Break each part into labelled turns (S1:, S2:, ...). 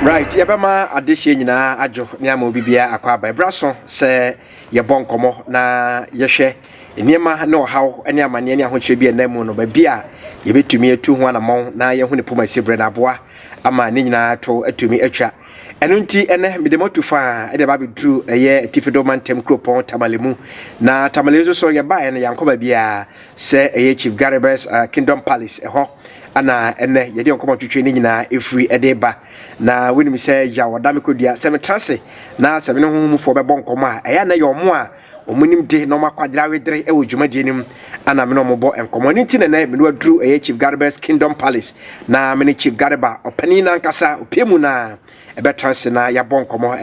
S1: right yɛbɛma adehyeɛ nyinaa adwo ne ama obi biara akɔ aba ɛberɛ so sɛ yɛbɔ nkɔmmɔ na yɛhwɛ Nneɛma ne ɔhaw ne amanneɛ ne ahokyerɛ bi a ɛnna mu no, baabi a yɛbɛtumi atu ho anammɔn na yɛahu ne pomasi berɛ no aboa ama ne nyinaa to atumi atwa. Ɛno nti, ɛnnɛ mede mo atu faa de aba abɛduru ɛyɛ Atifido mantam kuropɔn Tamale mu. Na Tamale nso so yɛbaeɛ no, yɛankɔ baabiara sɛ ɛyɛ Chief Garibus Kingdom Palace, ɛhɔ na ɛnnɛ yɛde yɛn nkɔmmɔtwetwe no nyinaa ɛfiri de reba. Na wonim sɛ Yaw ɔda me kɔdua, sɛ metra ase na sɛ me ne honhom mufoɔ bɛbɔ nkɔmmɔ a, ɛyɛ a na ɛyɛ wɔn a Wɔn nimde na wɔn akwadare awedere wɔ dwumadie no mu na me ne wɔn bɔ nkɔmmɔ. Ɛno nti na ɛnɛ me ne waduru ɛyɛ Chief Garebɛ's Kingdom Palace na me ne Chief Gareba ɔpanin nankasa opie mu na ɛbɛtra ase na yɛabɔ nkɔmmɔ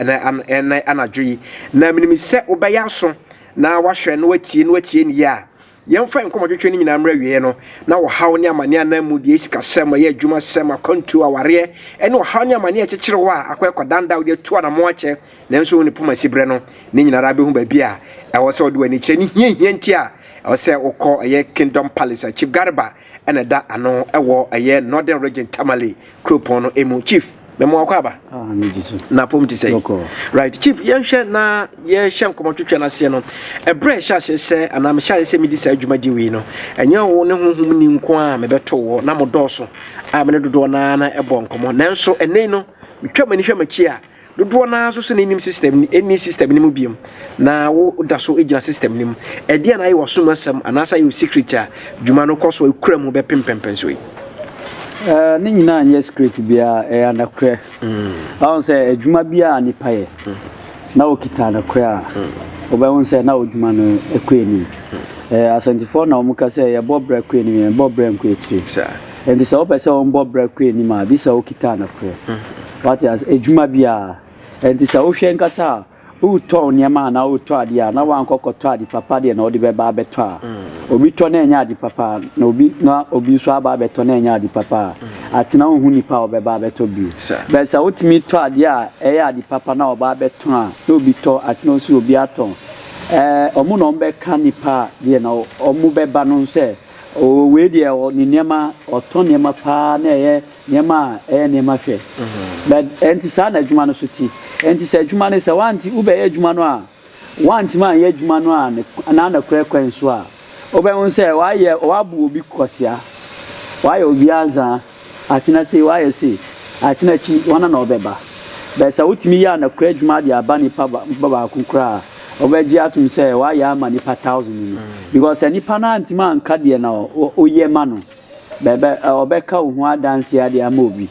S1: ɛnɛ anadwo yi. Na menim sɛ wobɛyɛ aso na wahwɛ na watie na watie ne yie a. Yɛmfa yɛn nkɔmmɔtwetwe no nyinaa mmra awieeɛ no, na ɔhaw ne amaneɛ a na mmu deɛ sikasɛm, ɛyɛ adwumasɛm, akwantuo, awareɛ, ne ɔhaw ne amaneɛ a ɛkyekyere hɔ a akɔ ɛkɔdandan wode atu anamɔn akyɛ nanso wo ne poma si berɛ no, ne nyinaa ara bɛhu baabi a ɛwɔ sɛ wode w'ani kyerɛ ne hiahia nti a ɛwɔ sɛ wokɔ ɛyɛ Kingdom Palace a Chief Garba na ɛda ano wɔ ɛyɛ Northern Region Tamale kuropɔn no mu. Chief, mɛmo akɔ aba. Ah, na pom ti sɛ. Right, Chief, yɛnhwɛ na yɛhyɛ nkɔmɔ twetwe no aseɛ no. Ɛberɛ ɛhyɛ aseɛ sɛ anaa mehyɛ aseɛ sɛ medi saa dwumadi wei no, ɛnyɛ wo ne honhom ni nko a mebɛto wɔ na mo dɔɔso a me ne dodoɔ no ara na ɛbɔ nkɔmɔ. Nanso ɛnɛ yi no, metwa m'ani hwɛ m'akyi a, Dodoɔ no ara nso sɛ na ɛnnim system no, ɛnni system no mu biom, na wo da so gyina system no mu. Ɛdeɛn na ayɛ w'asom asɛm anaasɛ ayɛ wo secret a dwuma no kɔ so kura mu bɛpem mpɛnpɛnsoɔ yi? Eh,
S2: ne nyinaa nyɛ secret biara, ɛyɛ anokorɛ. Wahu sɛ adwuma biara a nipa yɛ, na ɔkita anokorɛ a, wobɛhu sɛ na ɔdwuma no ɛkɔ anim. Eh, asɛntifoɔ na wɔka sɛ yɛbɔ brɛ kɔ anim, yɛbɔ brɛ nkɔ akyire. Nti sɛ wopɛ sɛ wɔbɔ brɛ kɔ anim a, gye sɛ wokita anokorɛ. Wate ase? Adwuma bi a. Ɛnti sɛ wohwɛ ankasa a, woretɔn nneɛma anaa woretɔ adeɛ a, na woankɔ kɔtɔ ade papa deɛ na wode bɛba abɛtɔ a, obi tɔ na ɛnyɛ ade papa a, na obi na obi nso aba abɛtɔ na ɛnyɛ ade papa a, atena wonhu nipa a ɔbɛba abɛtɔ bio. But sɛ wotumi tɔ adeɛ a ɛyɛ ade papa na ɔba abɛtɔn a, na obi tɔ, atena wosi obi atɔn. Ɛɛ, wɔn na wɔbɛka nipa a deɛ na wɔbɛba no sɛ, oo wei deɛ ɔ, ne nneɛma, ɔtɔ nneɛma paa na ɛyɛ Nneɛma a ɛyɛ nneɛma hwɛ. Na ɛnte saa na adwuma no so te. Ɛnte sɛ adwuma no, sɛ woante, wobɛyɛ adwuma no a, woantumi anyɛ adwuma no a ne, anaa nokorɛ kwan so a, wobɛhu sɛ woayɛ, woabu obi kwasea, woayɛ obi anzaa, akyena sei, woayɛ sei, akyena akyi, hɔn na wɔbɛba. But sɛ wotumi yɛ anokorɛ adwuma de aba nipa ba, nipa baako koraa a, wɔbɛgye atom sɛ woayɛ ama nipa thousand no. Because sɛ nipa no antumi anka deɛ na wo, woyɛ ma no. Bɛbɛ ɔbɛka wo ho adanseɛ ade ama obi.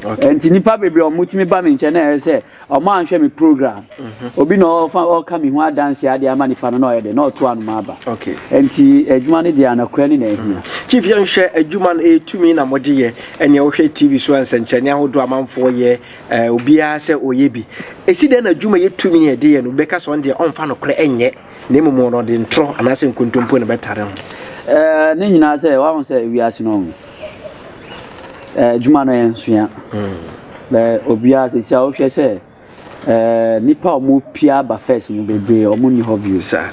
S2: Okay. Nti nipa bebree ɔmo tumi ba mi nkyɛn na ɛyɛ sɛ ɔmo anhwɛ mi program. Mhm. Obi na ɔfa ɔka mi ho adanseɛ ade ama nipa no na ɔyɛ dɛ na ɔto anoma aba. Okay. Nti
S1: adwuma no
S2: deɛ anɔkorɛ ne na ehia. Mhm. Chief yɛn hwɛ
S1: adwuma no etumi na mo de yɛ ɛnea wohwɛ TV so nsɛnkyerɛnne ahodoɔ amanfoɔ yɛ ɛɛ obiara sɛ ɔyɛ bi. Esi dɛn na adwuma yɛ tumi yɛ de yɛ no bɛka sɛ ɔn deɛ ɔnfa nokorɛ ɛnyɛ. Na mmom wɔn no, ɔde ntorɔ anaasɛ nkontompo na ɛbɛtare ho. Ɛɛ, ne nyinaa
S2: sɛ, woahu sɛ wiase no, ɛɛ, adwuma no yɛ nsoa. Bɛ, obiara, sisi a wohwɛ sɛ, ɛɛ, nnipa a wɔpie aba first no bebree, wɔn nni hɔ bio. Saa.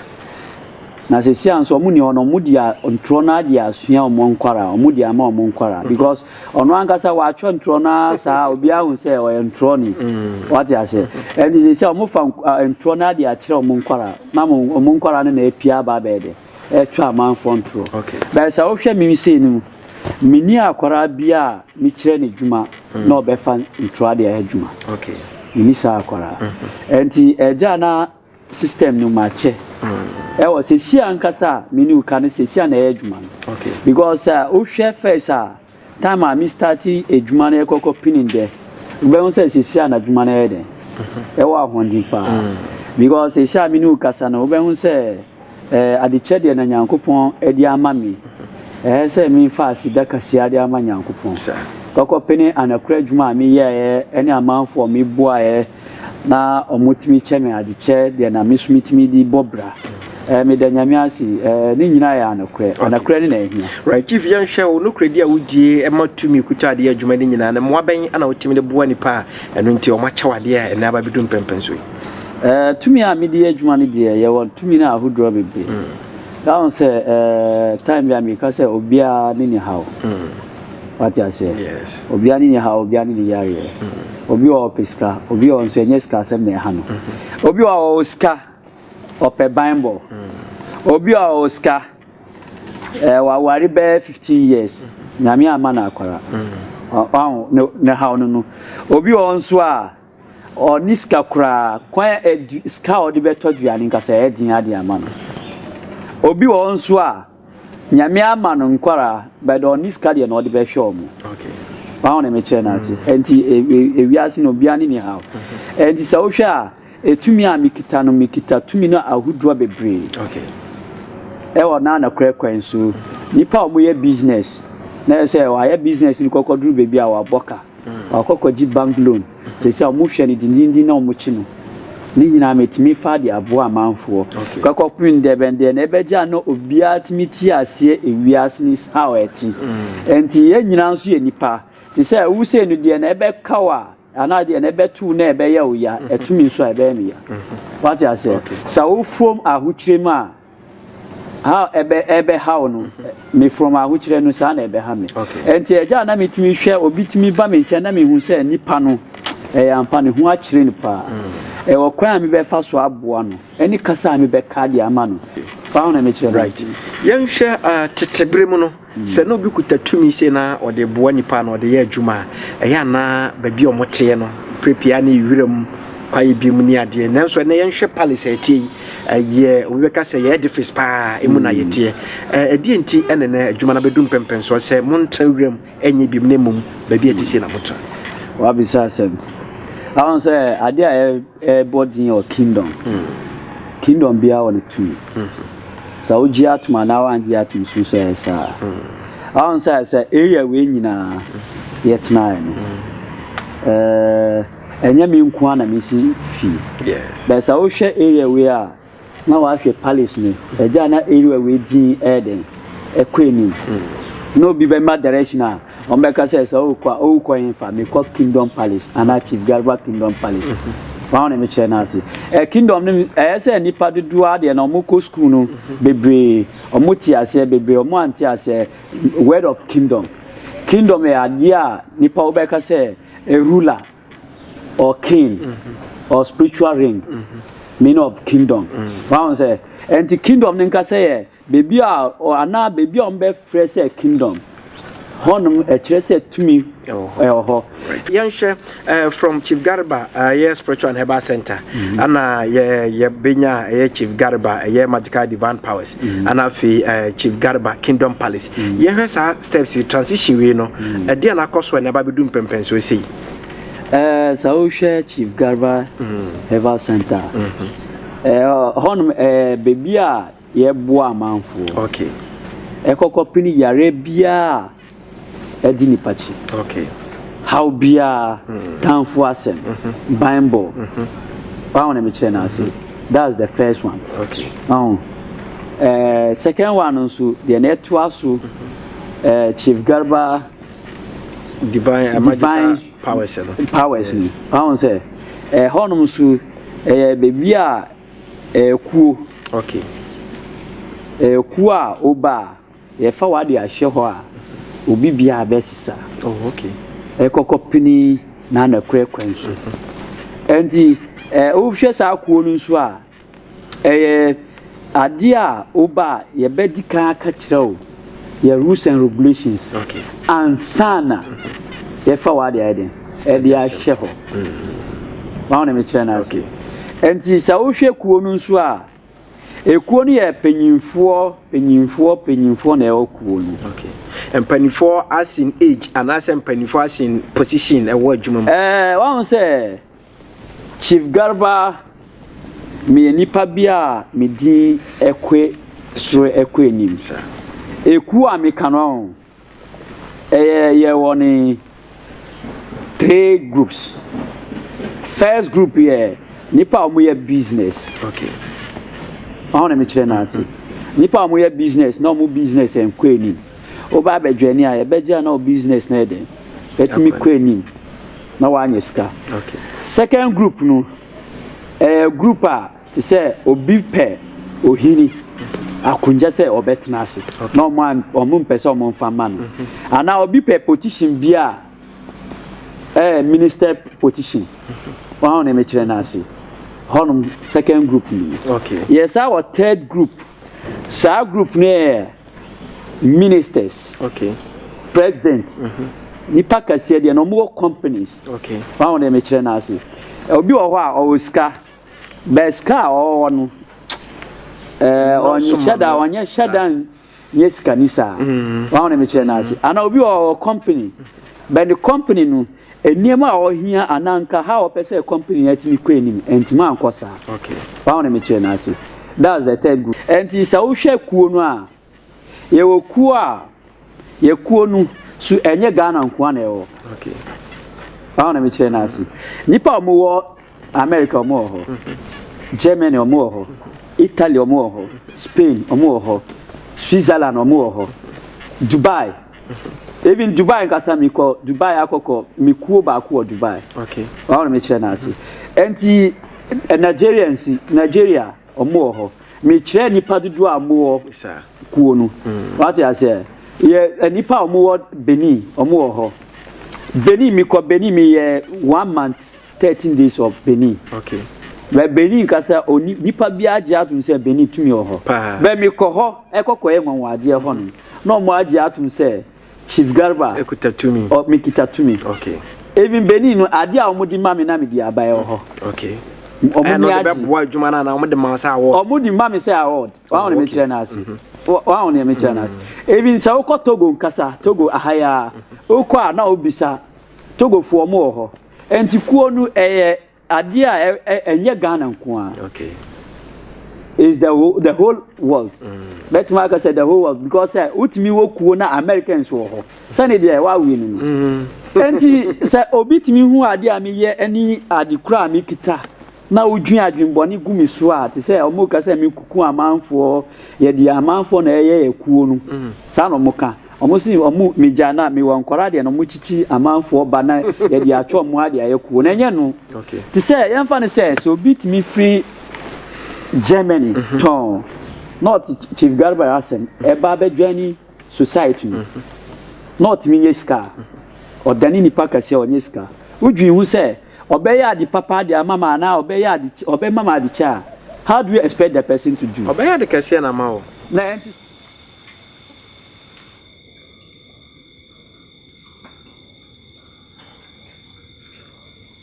S2: Na sisi a nso wɔn nni hɔ no, wɔn deɛ ntorɔ no ara deɛ asua wɔn nkwaraa, wɔn deɛ ama wɔn nkwaraa. Because, Ɔno ankasa watwerɛ ntorɔ no ara saa a obiara hu sɛ ɔyɛ ntorɔni. Wate aseɛ? Ɛnti sɛ sɛ wɔfa ntorɔ no ara de akyerɛ wɔn nkwadaa na wɔn nkwadaa no na apia aba abɛyɛ dɛ? Ɛretwa amanfoɔ ntorɔ. But sɛ wohwɛ
S1: me
S2: sei no mu, menni akwadaa biara a mekyerɛ no adwuma na ɔbɛfa ntorɔ de ayɛ adwuma. Menni
S1: saa akwadaa.
S2: Ɛnti agya a na system no mu akyɛ ɛwɔ sɛsi ankasa a me ne wo ka no sɛsi a na ɛyɛ adwuma no because
S1: a wohwɛ
S2: first a time a me start adwuma no ɛkɔkɔ pinin dɛ wobɛhu sɛ sɛsi a na adwuma no ɛyɛ dɛn ɛwɔ ahoɔden paa because sɛsi a me ne wo kasa no wobɛhu sɛ ɛɛ adekyɛ deɛ na nyankopɔn ɛde ama me ɛyɛ sɛ memfa aseda kaseɛ de ama nyankopɔn kɔkɔ pene anakora adwuma a meyɛɛ ɛne amanfoɔ meboaeɛ na wɔtumi kyɛ me ade kyɛ deɛ na me nso metumi de bɔ bra ɛɛ eh, meda nyame ase ɛɛ eh, ne nyinaa yɛ anokorɛ anokorɛ ne na ɛhia. right chief yɛnhwɛ wo
S1: nokorɛ di a wodie ɛma tumi kuta adeɛ adwuma no nyinaa no mmoa bɛn ana wotumi de boa nipa a ɛno nti wɔn akyɛw adeɛ a ɛnɛ aba bɛdu mpɛmpɛn so yi. ɛɛ eh, tumi
S2: a mede yɛ adwuma no deɛ yɛwɔ tumi no ahodoɔ bebree. Mm. That one sɛ uh, time bi a meka sɛ obiara ne ne haw mm. wate aseɛ yes obiara ne ne
S1: haw obiara
S2: ne ne yareɛ obi wɔ hɔ ɔpɛ sika obi wɔ hɔ nso ɛnyɛ sika asɛm na ɛha no obi wɔ hɔ ɔwɔ sika ɔpɛ banbɔ obi wɔ hɔ ɔwɔ sika ɛɛ eh, waware bɛyɛ fifteen years nyame ama no akwara ɔho ne ne haw no no obi wɔ hɔ nso a ɔne sika koraa kwan a ɛdu sika a ɔde bɛtɔ aduane nkasa ɛyɛ den ade ama no obi wɔ hɔ nso a Nyame ama no nkwaraa but ɔnni sika deɛ na ɔde bɛhwɛ ɔmo. Wahu
S1: ne mekyerɛ
S2: no ase. Ɛnti ewiase no obiara ne ne haw. Ɛnti sɛ wohwɛ a etumi a mekita no mekita tumi no ahodoɔ bebree.
S1: Ɛwɔ
S2: na nokorɛ kwan so nipa a wɔyɛ business na ɛsɛ sɛ wayɛ business no kɔkɔduru baabi a wabɔ ka. Wakɔ kɔgye bank loan. Seesei a wɔhwɛ no denneennen na wɔkye no ne nyinaa, metumi faa de aboa amanfoɔ. Kɔkɔpem ndɛ bɛn deɛ na ɛbɛgye a na obiara tumi te aseɛ ewiase no how a ɛte. Ɛnti yɛn nyinaa nso yɛ nnipa. Te sɛ wo sei no deɛ na ɛbɛka wo a anaa deɛ na ɛbɛto wo na ɛbɛyɛ wo ya, ɛto me nso a ɛbɛyɛ me ya. Wate aseɛ? Sɛ wo fam ahokyerɛ mu a ha ɛbɛ ɛbɛhaw no me from ahokyerɛ no saa na ɛbɛha me ɛnti ɛgya a na metumi hwɛ obi tumi ba me nkyɛn na mehu sɛ nipa no ɛyɛ ampa ne ho akyerɛ no paa ɛwɔ kwan a mebɛfa so aboa no ɛne kasa a mebɛka de ama no paa na mekyerɛ no right yɛnhwɛ
S1: uh, tete bere mu no Sɛ na obi kuta tumi sei na ɔde boa nnipa anaa ɔde yɛ adwuma a, ɛyɛ a na baabi a wɔteɛ no, berɛ pii ara na ɛyɛ wiram kwaeɛ bi mu ne adeɛ. Nanso ɛnnɛ yɛnhwɛ palace a ɛteɛ yi, ɛyɛ, obi bɛka sɛ ɛyɛ edifice pa ara, emu na yɛteɛ. Ɛ, ɛdeɛn nti na ɛnnɛ adwuma no abɛdu mpɛnpɛnsoɔ sɛ montra wiram nyɛ biom na mmom baabi a ɛte sei na motra? Wabisa
S2: asɛm. Wahu sɛ adeɛ a ɛbɔ din wɔ kingdom, kingdom biara wɔ ne tumi. Sɛ wogye atom anaa woangye atom nso nso ɛyɛ saa. Ahon sɛ sɛ area wei nyinaa yɛtenaeɛ no, ɛnyɛ me nko ara na mesi fie. Bɛɛ sɛ
S1: wohwɛ area
S2: wei a na wahwɛ palace no, ɛgya na area wei din ɛyɛ dɛn ɛkɔ anim. Na obi bɛma direction a Wɔbɛka sɛ sɛ ɔrekɔ a ɔrekɔ hefa? Mekɔ Kingdom Palace anaa Chief Garba Kingdom Palace. Wɔn a wɔn na mekyerɛ no ase. Ɛ Kingdom no ɛyɛ sɛ nnipa dodoɔ ara deɛ na wɔkɔ sukuu no bebree, wɔte aseɛ bebree, wɔn ante aseɛ word of Kingdom. Kingdom yɛ adeɛ a nnipa wobɛka sɛ a ruler or king or spiritual ring meaning of Kingdom. Wɔn a wɔn sɛ ɛnti Kingdom no nkasa yɛ Beebi a ɔ anaa beebi a wɔbɛfrɛ sɛ kingdom, hɔnom ɛkyerɛ sɛ tumi Ɛwɔ hɔ. ɛwɔ hɔ. Right.
S1: Yɛnhwɛ eh, from Chief Garba eh, ɛyɛ Spiritual and Herbal Center. Ɛna yɛ yɛbɛnya a ɛyɛ Chief Garba ɛyɛ Magical Divine Powers. Ɛna afei eh, Chief Garba Kingdom Palace. Yɛhwɛ saa steps yi transition wei no, ɛdeɛn na akɔ so a ɛna ɛba abɛdu mpɛmpɛnsoɔ sei? Ɛɛ,
S2: sɛ wohwɛ Chief Garba Herbal Center a, ɛɛ, hɔnom ɛɛ beebi a Yɛboa amanfoɔ
S1: kɔkɔpene
S2: yareɛ biara a adi nipa kyi,
S1: haw
S2: biara, tanfoɔ asɛm, banbɔ, wahu na mekyerɛ no ase, that's the first one, wahu
S1: eh,
S2: second one no nso deɛ na ɛtoa so eh, Chief Garba divine, eh, divine powers
S1: no powers no
S2: wahu sɛ ɛhɔnom eh, nso ɛyɛ baabi a Akuo, ok. Akuo a woba a, yɛfa wo ade ahyɛ hɔ a, obi biara bɛsesa. Oh, ok.
S1: Ɛkɔkɔ pini
S2: na na kura kwan so. Ɛnti, eh, wohwɛ saa akuo no nso a, ɛyɛ adeɛ a woba a, yɛbɛdi kan aka kyerɛ wo. yɛ rules and regulations ansa
S1: na
S2: yɛfa wɔ ade ayɛ den ɛde ahyɛ hɔ wɔn na mekyerɛ no ase nti sɛ wohwɛ kuo no nso a ekuo no yɛ panyinfoɔ panyinfoɔ panyinfoɔ na ɛwɔ kuo no. Okay.
S1: mpanimfoɔ asin age anaasɛ mpanimfoɔ asin position ɛwɔ adwuma mu. ɛɛ wɔn sɛ
S2: Chief Garba, meyɛ nipa bi a me din kɔ soro kɔ anim. Ekuo a meka no ɔn, ɛyɛ yɛwɔ ne three groups. First group yɛ nipa a wɔyɛ business.
S1: Okay.
S2: Wɔn na mekyerɛ n'ase. Nipa a wɔyɛ business na wɔn business nkɔ anim. Woba abɛjoini a yɛbɛgye a na wo business no yɛ dɛn? Atumi kɔ anim na woanya sika. Second
S1: group
S2: no, ɛyɛ group a te sɛ obi pɛ ohini akonnwa sɛ ɔbɛtena ase na wɔn a wɔn mpɛ sɛ wɔn mfa ma no. Mm-hmm. Anaa obi pɛ position bi a ɛyɛ minister position. Mm-hmm. Wɔn a wɔn kyerɛ no ase. Hɔnom second group no. Yɛ saa wɔ
S1: third
S2: group. Saa group no yɛ ministers okay
S1: president mm
S2: -hmm. nipa kɛseɛ deɛ na wɔn wɔ companies okay wɔn ahodeɛ
S1: mi kyerɛ
S2: n'ase obi wɔ hɔ a ɔwɔ sika bɛɛ sika a ɔwɔ no ɛɛ ɔnyɛ hyɛ da ɔnyɛ hyɛ da nyɛ sika ni saa wɔn ahodeɛ mi kyerɛ n'ase ana obi wɔ ɔwɔ company bɛɛ ne company no. Nneɛma a ɔhia anaa nka how ɔpɛ sɛ company no tumi kɔ anim antumi ankɔ saa. Wahu ne
S1: mekyerɛ no
S2: ase. That's the third group. Ɛnti sɛ wohwɛ kuo no a, yɛwɔ kuo a, yɛ kuo no so ɛnyɛ Ghana nkoa na ɛwɔ.
S1: Wahu ne
S2: mekyerɛ no ase. Nnipa a wɔwɔ America wɔn wɔ hɔ, Germany wɔn wɔ hɔ, Italy wɔn wɔ hɔ, Spain wɔn wɔ hɔ, Switzerland wɔn wɔ hɔ, Dubai. Even Dubai nkasa mi kɔ Dubai akɔ kɔ mi kuo baako wɔ Dubai. Okay. Wɔn mi
S1: kyerɛ
S2: n'ase. Nti eh, Nigeria nsi Nigeria ɔmo wɔ hɔ. Mi kyerɛ nipa dodoɔ a ɔmo wɔ kuo no. Mm. Wate aseɛ. Yɛ eh, nipa a ɔmo wɔ Benin ɔmo wɔ hɔ. Benin mi kɔ Benin mi yɛ one month 13 days of benin okay bɛ
S1: benin
S2: kasa oni nipa bi agye atom sɛ benin tumi wɔ hɔ bɛ mi kɔ hɔ ɛkɔ kɔ yɛ nwanwa adeɛ hɔ no na ɔmo agye atom sɛ chief garba ɛkuta tumi ɔ mi
S1: kita tumi
S2: okay even
S1: benin no
S2: adeɛ a ɔmo di ma mi na mi di aba ɛwɔ hɔ okay
S1: ɔmo ni agye ɛna ɔde bɛ
S2: boa adwuma na
S1: na ɔmo de ma sɛ award ɔmo di ma mi sɛ award
S2: wɔn a wɔn mi kyerɛ na ase wɔn a wɔn mi kyerɛ na ase even sɛ wokɔ togo nkasa togo ahaya wokɔ a na obisa togo fo ɔmo wɔ hɔ. Nti kuo no ɛyɛ adeɛ a ɛnyɛ Ghana nko ara. Okay. It's the whole, the whole world. Bɛtumi mm. aka sɛ the whole world because sɛ wotumi wɔ kuo na Americans wɔ hɔ. Sɛne deɛ wawe no no. Mm. Nti sɛ obi tumi hu adeɛ a meyɛ ne ade kura a mekita. na wodwin adwen bɔne gu me so a te sɛ ɔmo ka sɛ me kuku amanfoɔ yɛ deɛ amanfoɔ na ɛyɛ yɛ kuo no saa na ɔmo ka ɔmo se ɔmo me gya na me wɔ nkɔra deɛ na ɔmo kyikyi amanfoɔ ba na yɛ deɛ atwɔ ɔmo ha deɛ ayɛ kuo na ɛnyɛ no te sɛ yɛn fa
S1: no sɛ
S2: sɛ obi tumi firi Germany tɔn na ɔte Chief Garba yɛ asɛm ɛba abɛ joini society no na ɔtumi nyɛ sika ɔdane nipa kɛseɛ ɔnyɛ sika wodwin ho sɛ ɔbɛyɛ ade papa de ama ma anaa ɔbɛyɛ ade ɔbɛma ma ade kyɛ a, how do you expect the person to do? Ɔbɛyɛ ade kɛseɛ na ama wo.
S1: Na ɛnte
S2: saa.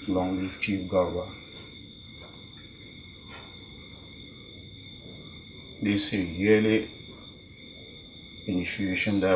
S3: Long live Chief Garba. They say yearly initiation that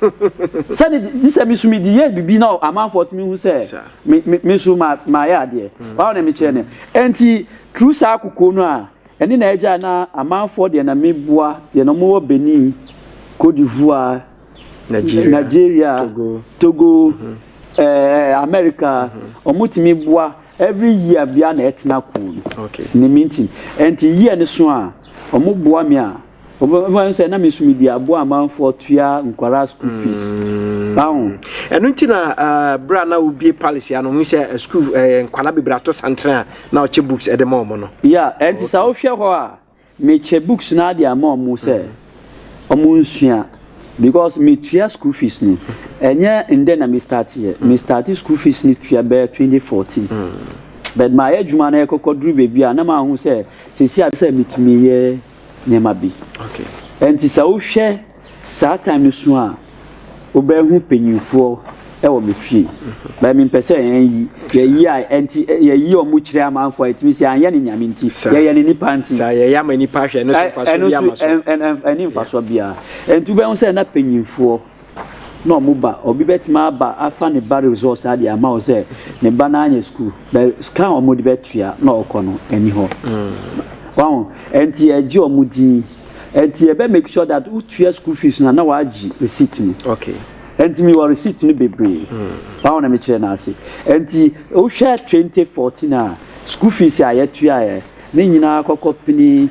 S2: sɛde gye sɛ me nso mede yɛɛ biribi na amanfoɔ tumi hu sɛ me me me nso ma mayɛ adeɛ mm. wɔn na mekyerɛ no nti turu saa kokoɔ no a ɛne na ɛgya na amanfoɔ deɛ na meboa deɛ na wɔwɔ Benin Cote d'Ivoire Nigeria, Nigeria Togo, Togo mm -hmm. eh, America wɔn mm -hmm. tumi boa every year bia na ɛtena kuu no okay. ne
S1: mintin
S2: nti year no so a wɔn boa me a. Wobɛhu sɛ na me so mede aboa amanfoɔ tua nkwaraa school fees. Ahu. Ɛno nti na
S1: berɛ a na wobie palace ya no hu sɛ school nkwaraa bebree ato santere a na ɔkyɛ books de ma ɔmo no. Ya, ɛnti sɛ wohwɛ
S2: hɔ a mekyɛ books no ade ama ɔmo sɛ ɔmo nsua because metua school fees no ɛnyɛ ndɛ na me start yɛ. Me start school fees no tua bɛyɛ 2014 but mayɛ adwuma no ɛkɔkɔduru baabi a na mahu sɛ sɛsi a sɛ metumi yɛ. nneɛma bi. Ɛnti
S1: sɛ wohwɛ
S2: saa time no so a, wobɛhu panyinfoɔ wɔ me fie. Mhm. Bɛyɛ me mpɛ sɛ yɛn yi, yɛyi a ɛnti yɛyi wɔn mu kyerɛ amanfoɔ a ɛtumi sɛ yɛanyɛ ne nyame nti, yɛyɛ ne nipa nti. Saa yɛyɛ ama nipa ahwɛ
S1: ɛno so mfasoɔ bi ama so. Ɛno so ɛni mfasoɔ
S2: biara. Ɛnti wobɛhu sɛ na panyinfoɔ na ɔmo ba obi bɛtumi aba afa ne ba resɔs adeɛ ama wo sɛ ne ba no anyɛ sukuu bɛ sika a ɔmo de bɛtua na ɔkɔ no ɛni hɔ wahu ɛnti ɛgye ɔmo din ɛnti ɛbɛ make sure that wotua sukuu fees no na wagye receipt no okay ɛnti
S1: mi wɔ receipt
S2: no bebree wahu na mekyerɛ no ase ɛnti wohwɛ 2014 a sukuu fees a yɛtuaeɛ ne nyinaa kɔkɔ pini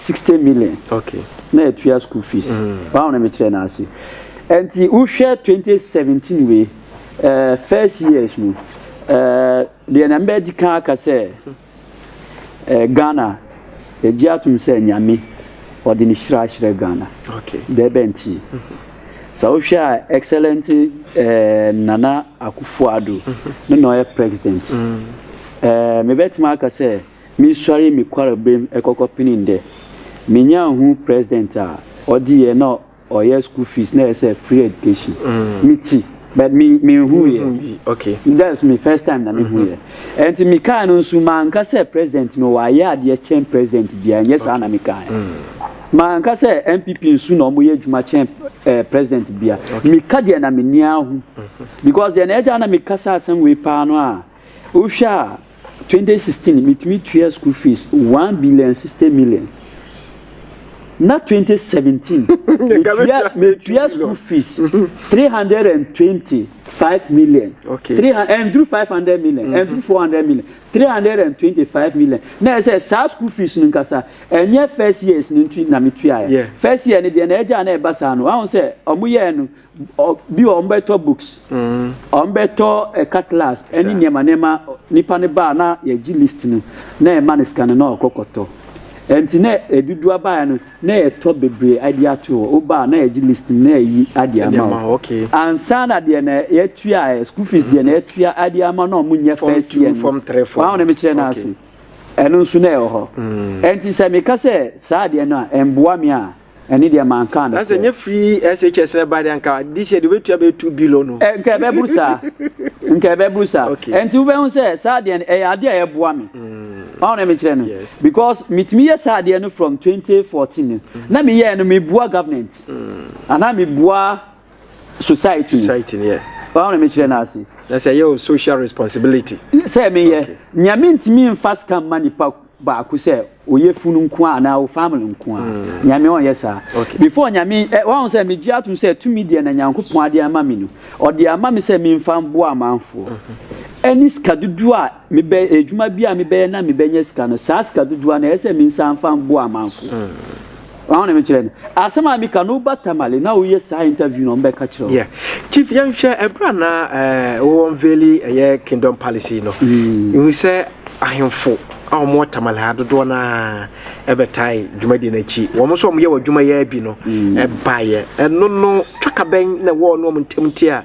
S2: Sixty million na ɛtua
S1: school
S2: fees wɔn a na me kyerɛ no ase ɛnti wohwɛ twenty seventeen wei ɛɛ first years no ɛɛ deɛ na mbɛ di kan aka sɛ ɛɛ Ghana egye atum sɛ nyame ɔde ne hyira ahyerɛ Ghana dɛ bɛ
S1: nti
S2: sɛ wohwɛ a excellent ɛɛ Nana Akufo-Addo no na ɔyɛ president ɛɛ mebɛtumi aka sɛ. Mesuaree me kwarberem kɔkɔ penee ndɛ. Menyaa hun president a, ɔdze yɛ na ɔyɛ school fees na yɛsɛ free education. Metse but me mennhuu yɛ. That's me
S1: first time
S2: na mehu yɛ. Ntsi mekaa no nso mannka sɛ president no ɔayɛ adeɛ kyɛn president biara, nnyɛ saa na mekaeɛ. Mannka sɛ NPP nso na wɔyɛ adwuma kyɛn president biara. Meka deɛ na m'ani ahu. Because deɛ na ɛgyaa na meka saa asɛm wei paa no a, Wohwɛ a, twenty sixteen metumi tua school fees one billion and sixty million. Na twenty seventeen metua metua school fees three hundred and twenty five million. Okay. Three and
S1: through five
S2: hundred million and through four hundred million three hundred and twenty five million. Na ɛsɛ saa school fees no nkasa ɛnyɛ first years no nti na metua yɛ. First year no deɛ na ɛgya na ɛba saa no wɔn sɛ wɔn yɛ no. Bi wɔ hɔ wɔbɛtɔ books, wɔbɛtɔ car class ne nneɛma nneɛma. Nipa no ba a na yɛgye list no na yɛma no sika no na ɔkɔ kɔtɔ. Nti na dodoɔ a baeɛ no na yɛtɔ bebree de ato hɔ. Woba a na yɛgye list no na yɛyi de ama wo. Ansa
S1: na deɛ na
S2: yɛtua ɛ, school fees deɛ na yɛtua de ama na wɔnyɛ first year no. W'aho na
S1: mekyerɛ no ase.
S2: Ɛno nso na ɛwɔ hɔ. Nti sɛ meka sɛ saa adeɛ no a ɛmboa me a. Ɛne deɛ mankaa no. Na sɛ nyɛ free
S1: SHS ɛba deɛ nka this year deɛ obetua bɛyɛ two billion no. Ɛ nka ɛbɛburu saa
S2: nka ɛbɛburu saa Okay. ɛnti wobɛhu sɛ saa deɛ no ɛyɛ adeɛ a ɛboa me ɔn na mekyerɛ no Yes. because metumi yɛ saa adeɛ no from 2014 no na meyɛɛ no mebua government anaa mebua society no Society no yɛ.
S1: ɔn na mekyerɛ no
S2: ase Na sɛ ɛyɛ o social
S1: responsibility. sɛ meyɛ
S2: Okay. nea mentumi mfa sika mma nipa baako sɛ ɔyɛ funu nko a anaa wo family nko a mm. nyame ɔnyɛ saa before nyame eh, wahu sɛ megye atom sɛ tumi deɛ na nyankopɔn ade ama me no ɔde ama me sɛ memfa mboa amanfoɔ mm-hmm. ɛne sika dodoɔ a mebɛ adwuma bi a mebɛyɛ na mebɛnya sika no saa sika dodoɔ na ɛyɛ sɛ mensa mfa mboa amanfoɔ mm. Wɔn na mekyerɛ no. Asɛm a meka no woba Tamale na woyɛ saa interview no ɔmbɛka kyerɛ wo. Yeah. Chief yɛnhwɛ
S1: ɛberɛ a na eh, wo unveili ɛyɛ Kingdom Palace yi no. Mm. Ihu sɛ ahemfo a wɔn wɔ Tamale ha dodoɔ no ara ɛbɛtae dwumadie no akyi. Wɔn nso wɔn yɛ wɔ adwuma yɛ bi no ɛbaeɛ. Mm. Ɛno no twakabɛn na ɛwɔ no wɔn ntam nti a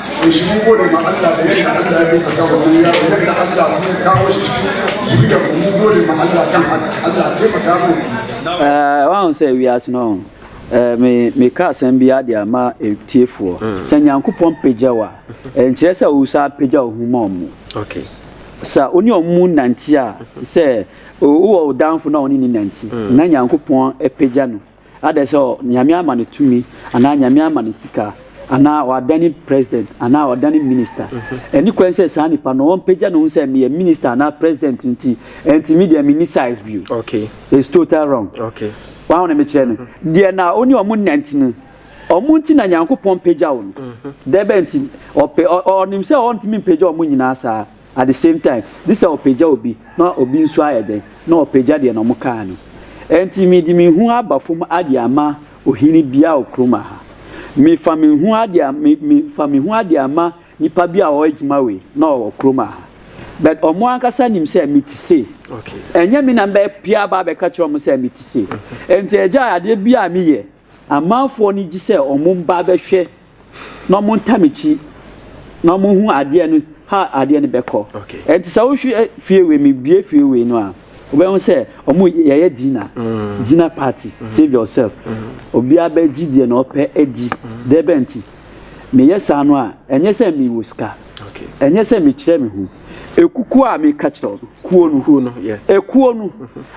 S4: Nhyira mu gode ma Allah da yadda Allah ya ɗaukaka wannan yaro yadda Allah kuma
S2: ya kawo shi cikin zuriya mu mun gode ma Allah kan haka Allah taimaka mai. Eh, wahu sɛ wiase no eh, me meka asɛm bi ade ama tiefoɔ mm. sɛ nyankopɔn pagya wo a eh, nkyerɛ sɛ wo saa pagya wo ho ma ɔmo
S1: sɛ wo ne
S2: ɔmo nante a sɛ wowɔ wo danfo na ɔne ne nante mm. na nyankopɔn pagya no Adɛn sɛ Nyame ama no tumi anaa Nyame ama no sika anaa ɔadane president anaa ɔdane minister. Ɛnni kwan sɛ saa nipa no ɔmpagya ne ho sɛ meyɛ minister anaa president nti ɛnti me deɛ menni size bio. It's total
S1: wrong.
S2: Wahu ne
S1: mekyerɛ no?
S2: Deɛ na ɔne ɔmo nnante no, ɔmo nti na Nyankopɔn pagyaw no. Dɛbɛn nti? Ɔpɛ, ɔnim sɛ ɔntumi mpagya ɔmo nyinaa saa. At the same time, gye sɛ ɔpagya obi na obi nso ayɛ dɛn na ɔpagya deɛ na wɔkaa no. Ɛnti mede me ho aba fam ade ama ohene biara wɔ kurom aha. Mefa me ho ade a, me, me, fa me ho ade ama nipa bi a ɔwɔ adwuma wei na ɔwɔ kurom aha. But wɔn ankasa nim sɛ mete sei. Ɛnyɛ me
S1: na mɛpia
S2: aba abɛka kyerɛ wɔn sɛ mete sei. Ɛnti ɛgya adeɛ biara a meyɛ, Amanfoɔ no gye sɛ ɔmo mba abɛhwɛ na ɔmo ntam akyi na ɔmo hu adeɛ no how adeɛ no bɛkɔ. Ɛnti sɛ wohwɛ fie wei me bue fie wei no a wobɛhu sɛ ɔmo yɛyɛ dinner dinner party save yourself obiara bɛgye deɛ na ɔpɛ adi dɛbɛn nti Meyɛ saa no a, ɛnyɛ sɛ mewɔ sika, ɛnyɛ sɛ
S1: mekyerɛ me ho.
S2: Ekukuo a meka kyerɛ wo no, kuo no, kuo no, yeah. ekuo no.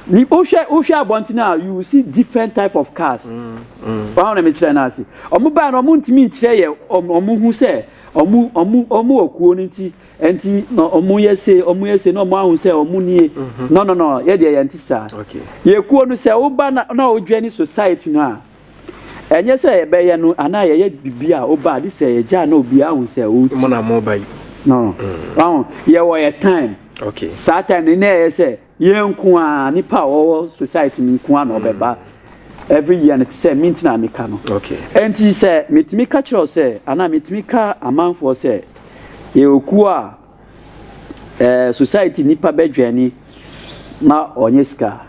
S2: Ni wohwɛ wohwɛ abɔnten a you see different type of cars. Mm, mm. Wɔn na mekyerɛ no ase. Wɔn baa no wɔn ntumi nkyerɛ yɛ wɔn wɔn ho sɛ wɔn wɔn wɔn wɔ kuo no nti nti na wɔn yɛ se wɔn yɛ se na wɔn ahu sɛ wɔn nie. Mm-hmm. No no no yɛ deɛ yɛn ti saa. Yɛ kuo
S1: no sɛ
S2: woba na na wodwɛ ne society no a. Ɛnyɛ sɛ yɛbɛyɛ no anaa yɛyɛ biribi a woba a gye sɛ yɛgya a na obiara hu sɛ wo ti. Mo na mo ba yi.
S1: No.
S2: Wahu, yɛwɔ yɛ time. Okay. Saa time
S1: no na ɛyɛ
S2: sɛ yɛn nko a nipa a wɔwɔ society no nko a na ɔbɛba every year no te sɛ me nti na meka no. Okay. Ɛnti sɛ metumi ka kyerɛ wo sɛ anaa metumi ka amanfoɔ sɛ yɛwɔ kuo a eh society nipa bɛ dwɛni ma ɔnyɛ sika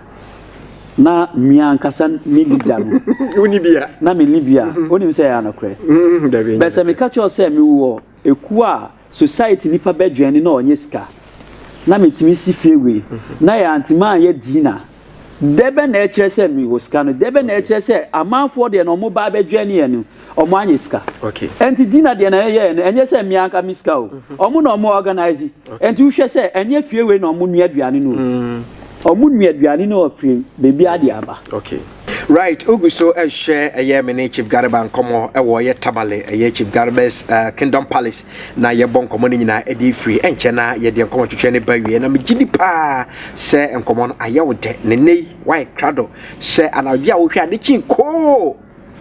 S2: na mia ankasa me leader no woni bia na
S1: me ni bia mhm.
S2: onim sɛ ya no korɛ mhm, bɛ sɛ me ka kyɛw sɛ me wɔ ekuo a society nipa bɛ dwɛni na ɔnyɛ sika na me timi si fie wei mhm. na yɛ antima yɛ dina Dɛ bɛn na ɛkyerɛ sɛ mewɔ sika no? Dɛ bɛn na ɛkyerɛ sɛ amanfoɔ deɛ no wɔba abɛdwɛn yɛn no, wɔanyɛ sika? Ɛnti Dina
S1: deɛ na
S2: yɛyɛɛ no, ɛnyɛ sɛ me anka me sika o. Wɔn na wɔn organise. Ɛnti wohwɛ sɛ ɛnyɛ fie wei na wɔn nua aduane no o. Wɔn nua aduane no ɔfiri baabiara de aba.
S1: Right ogu so ɛhwɛ ɛyɛ me ne chief garba nkɔmɔ ɛwɔ ɛyɛ tamale ɛyɛ chief garba's kingdom palace na yɛbɔ nkɔmmɔ no nyinaa de firi ɛnkyɛ na yɛde nkɔmmɔ twetwɛ ne ba wie na megye di paa sɛ nkɔmmɔ no ayɛ wo dɛ ne nnɛ yi woayɛ krado sɛ anadwo a wohwɛ ade kyin koo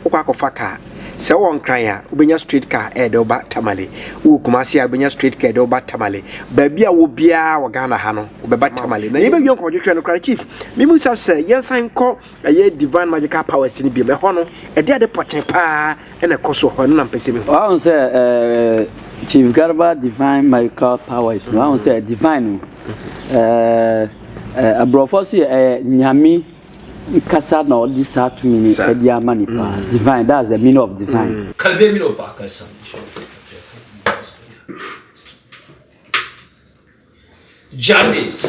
S1: wokɔ akɔfa kaa sɛ wowɔ nkran a wobɛnya straight car ɛde woba tamale wowɔ kumase a wobɛnya straight car ɛde woba tamale baabi a wɔ biara wɔ ghana ha no wobɛba tamale na yɛbɛwie nkɔmmɔ twetwɛ no koraa chief memu sa sɛ yɛnsan kɔ ɛyɛ Divine Magical Powers no biom. Ɛhɔ no, ɛde ade pɔtee paa na ɛkɔ so wɔ hɔ. Ɛno na mepɛ sɛ mehu. Wahu sɛ ɛɛ
S2: Chief Garba Divine Magical Powers no, wahu sɛ divine no, ɛɛ aborɔfo so yɛ ɛyɛ nyame kasa na ɔde saa tumi no Saa. ɛde ama nipa. Divine, that's the meaning of divine. Kabea mi na ɔba akasa mi hyɛ
S5: ɔfɛ kabea kabea mi na ɔsɛ ya. Jane sɛ.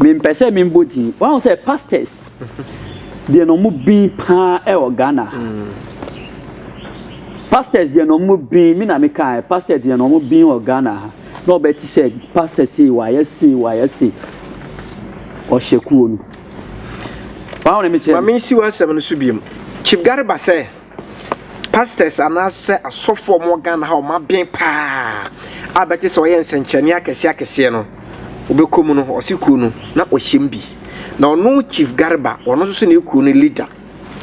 S2: Mempɛ sɛ membɔ din. Wahu sɛ pastors deɛ na wɔn bin paa ɛwɔ Ghana ha. Pastors deɛ na wɔn bin, me na me ka ɛ, pastors deɛ na wɔn bin wɔ Ghana ha. Na ɔbɛ ti sɛ pastor sei wayɛ sei wayɛ sei. Ɔhyɛ kuo no. Wahu ne mekyerɛ no. Ma mensi w'asɛm no so biom.
S1: Chief Garba sɛ. Pastors anaasɛ asɔfo a wɔwɔ Ghana ha a wɔaben paa a bɛte sɛ wɔyɛ nsɛnkyerɛnne akɛseɛ akɛseɛ no, wobɛkɔ mu no, ɔse kuo no, na ɔhyɛ mu bi. Na ɔno Chief Garba, ɔno nso so ne kuo no leader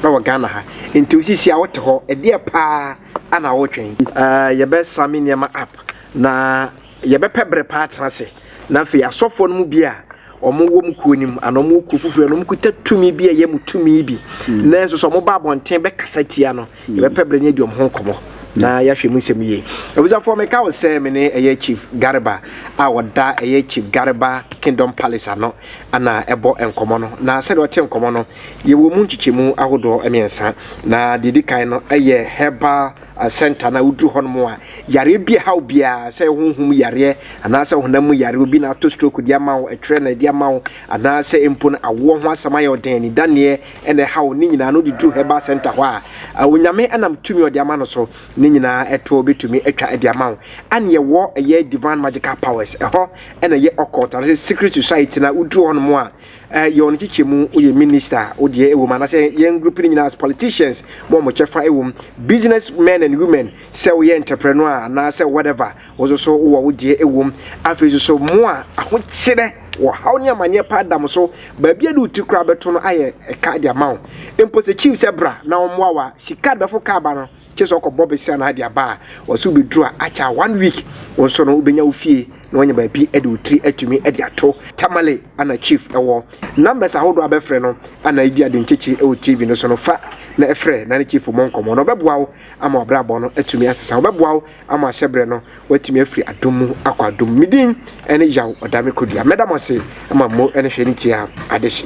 S1: wɔ Ghana ha. Nti wo sisi a wote hɔ, ɛdeɛ paa na wotwɛn? Ɛɛ, yɛbɛsame nneɛma up na Yɛbɛpɛ bere pa atena ase, na afei asɔfoɔ no mu bi a wɔwom kuo no mu anaa wɔwɔ kuo foforɔ na wɔkuta tumi bi a ɛyɛ mo tumi bi, mm. nanso sɛ wɔba abɔnten bɛkasa tia no, mm. yɛbɛpɛ bere ne adi wɔn ho nkɔmmɔ mm. na yɛahwɛ mu nsɛm yie. Abusuafoɔ, meka wo sɛ me ne ɛyɛ Chief Garba a ɔda ɛyɛ Chief Garba Kingdom Palace ano ana ɛbɔ nkɔmmɔ no, na sɛdeɛ ɔte nkɔmmɔ no, yɛwɔ mu nkyekyɛmu ahodoɔ mmiɛnsa, na deɛ ɛdi kan no yɛ herbal Asɛnta no a woduru hɔ nom a, yareɛ bi ɛhaw biara, sɛ ɛyɛ honhom mu yareɛ anaa sɛ honam mu yareɛ, obi na ato stroke de ama wo, ɛtwerɛ na ɛde ama wo, anaa sɛ mpo no awoɔ ho asɛm ayɛ wo den, anidaneɛ na ɛhaw wo, ne nyinaa no wode duru Herbal Centre hɔ a, Onyame nam tumi a ɔde ama no so no nyinaa ɛtoɔ bɛtumi atwa de ama wo. Ɛne yɛwɔ ɛyɛ Divine Magical Powers, ɛhɔ na ɛyɛ Occult anaa sɛ Secret Society no a woduru hɔ nom a, Eh yɛ wɔn kyekyɛ mu wo yɛ minister wo deɛ ɛwɔ mu anasɛ yɛn group no nyinaa as politicians mo wɔn kyɛfa ɛwɔ mu business men and women sɛ woyɛ entrepreneur a anaasɛ whatever wo nso so wowɔ wo deɛ ɛwɔ mu afei nso so mo a ahokyerɛ wɔ haw ne amaneɛ paa da mo so baabi a de wo ti koraa bɛto no ayɛ ɛka de ama wo mpo sɛ chief sɛ bra na wɔn mmoa wa sika bɛfo kaa ba no Kyerɛ sɛ ɔkɔbɔ bɛsi anaa de aba a, wɔse wobɛduru a akyɛ a one week wo nso no wobɛnya wo fie na woanya baabi de wo tiri atumi de ato. Tamale ana Chief wɔ numbers ahodoɔ a bɛfrɛ no ana ɛdi ade nkyekye wɔ TV no so no fa na ɛfrɛ na ne Chief mmɔ nkɔmmɔ na ɔbɛboa wo ama w'abrabɔ no atumi asesa. Ɔbɛboa wo ama ahyɛberɛ no woatumi afiri adom mu akɔ adom mu. Me din ne Yaw Ɔdame Kodua. Mɛda mo ase ma mmo ne hwɛ ne tie a adehye.